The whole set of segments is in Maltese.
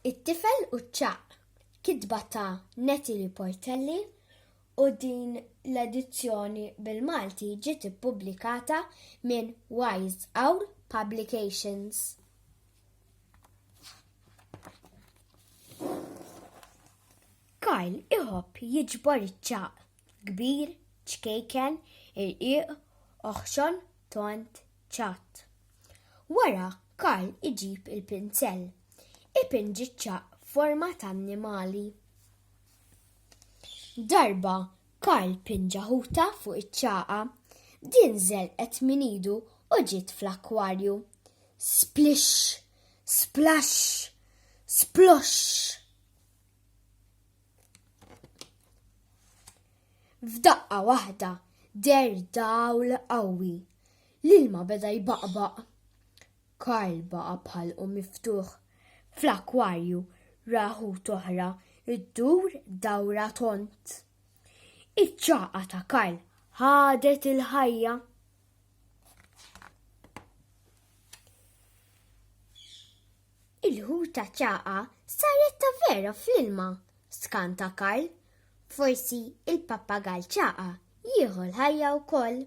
It-tifel u ċaq kitba ta' Natalie Portelli u din l-edizzjoni bil-Malti ġiet ippubblikata minn Wise Owl Publications. Kyle iħobb jiġbor iċ-ċaq. kbir, ċkejken, irqiq, oħxon, tond, ċatt. Wara Karl iġib il-pinsell, ipinġi ċ-ċaqq f'forma ta' annimali. Darba Karl pinġa ħuta fuq iċ-ċagħa, din żelqet minn idu u ġiet fl-akkwarju. Splix! Splash! Splosh! F'daqqa waħda der dawl qawwi. L-ilma beda jbaqbaq. Karl baqa bħal u miftuħ. Fl-akwarju raħu toħra id-dur dawra tont. Iċ-ċaqa ta' Karl ħadet il-ħajja. Il-ħuta ċaqa saret ta' vera fl-ilma, skanta Karl. Forsi il-pappagall ċaqa jieħu l-ħajja wkoll.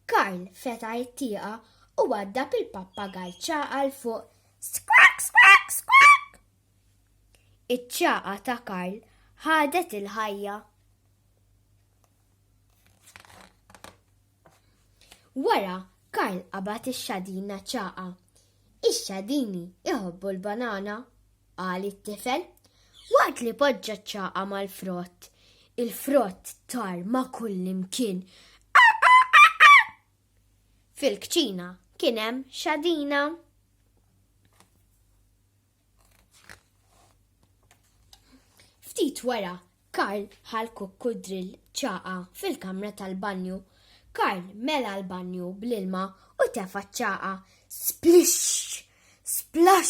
Karl fetaħ it-tieqa u waddab il-pappagall ċaqa l fuq skrak skrak skrak. Iċ-ċaqa ta' Karl ħadet il-ħajja. Wara, Karl qabad ix-xadina ċaqa. Ix-xadini iħobbu l-banana, qal it-tifel. Waqt li poġġa ċaqa mal-frott, il-frott tar ma' kullimkien. Fil-kċina kien hemm xadina. Ftit wara, Karl ħal kukku drill ċaqa fil-kamra tal-banju. Karl mela l-banju bl-ilma u tefa ċaqa. Splix! Splax!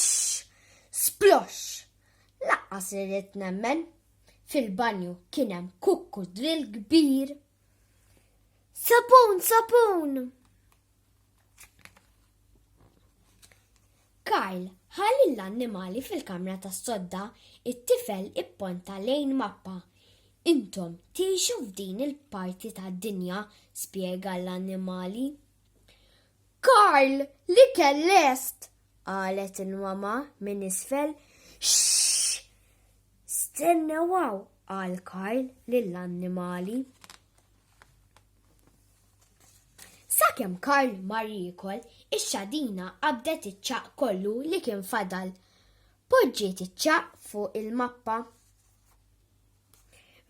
Splox! Laqqas irrid nemmen. Fil-banju kien hemm kukku drill kbir. Sapun, sapun! Karl ħalli l-annimali fil-kamra tas sodda it-tifel ipponta lejn mappa. Intom tiexu f'din il-parti tad dinja spjega l-annimali. Karl li kellest! qalet il-mama minn isfel. Xxx! Stennew hawn, qal Karl lill-annimali. Sakemm Karl mar jiekol, ix-xadina qabdet iċ-ċagħaq kollu li kien fadal. Poġġiet iċ-ċagħaq fuq il-mappa.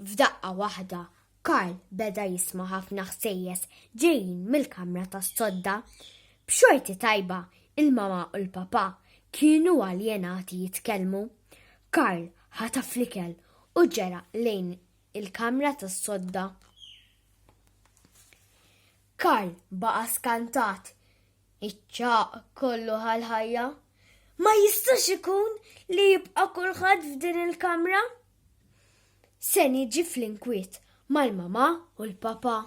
F'daqqa waħda, Karl beda jisma' ħafna ħsejjes ġejjin mill-kamra tas-sodda. B'xorti tajba, il-mama u l-papa kienu aljenati jitkellmu. Karl ħataf l-ikel u ġera lejn il-kamra tas-sodda. Karl baqa' skantat. Iċ-ċaq kollu ħal-ħajja. Ma jistax ikun li jibqa' kulħadd f'din il-kamra, Se niġi fl-inkwiet mal-mama u l-papa.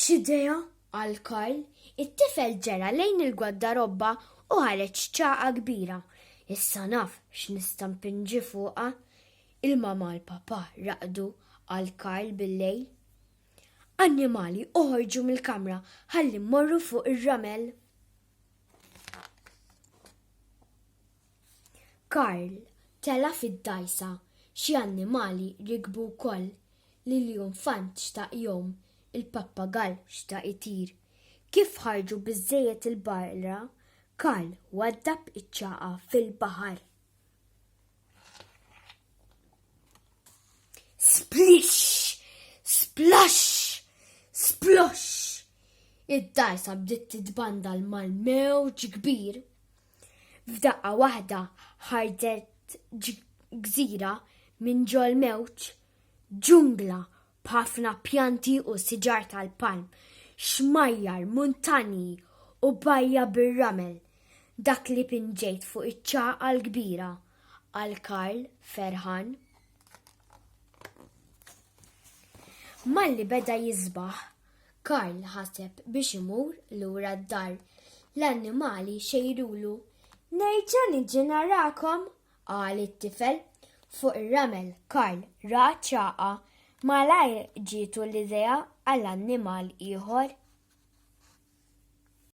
X'idea għal Karl, it-tifel ġera lejn il-gwaddarobba u ħareġ ċaqa kbira. Issa naf x'nista' mpinġi fuqha. Il-mama l-papa raqdu għal Karl bil-lejl. Annimali oħorġu mill-kamra ħalli mmorru fuq ir-ramel. Karl tela fid-dajsa xi annimali rikbu wkoll l-iljunfant xtaq jgħum, il-pappagall xtaq itir. Kif ħarġu biżżejjed il-barra, Karl waddab iċ-ċagħaq fil-baħar. Splish! Splash! Splosh! Id-dajsa bdiet titbandal mal-mewġ kbir. F'daqqa waħda ħarġet gżira minn ġol mewġ, ġungla b'ħafna pjanti u siġar tal-palm, xmajjar, muntanji u bajja bir-ramel, dak li pinġejt fuq iċ-Ċagħqa l-Kbira, qal Karl, ferħan. Malli beda jisbaħ, Karl ħaseb biex imur lura d-dar. L-annimali xejrulu. Nerġa' niġi narakom, qal it-tifel. Fuq ir-ramel Karl ra ċagħa. Malajr ġietu l-idea għal annimal ieħor.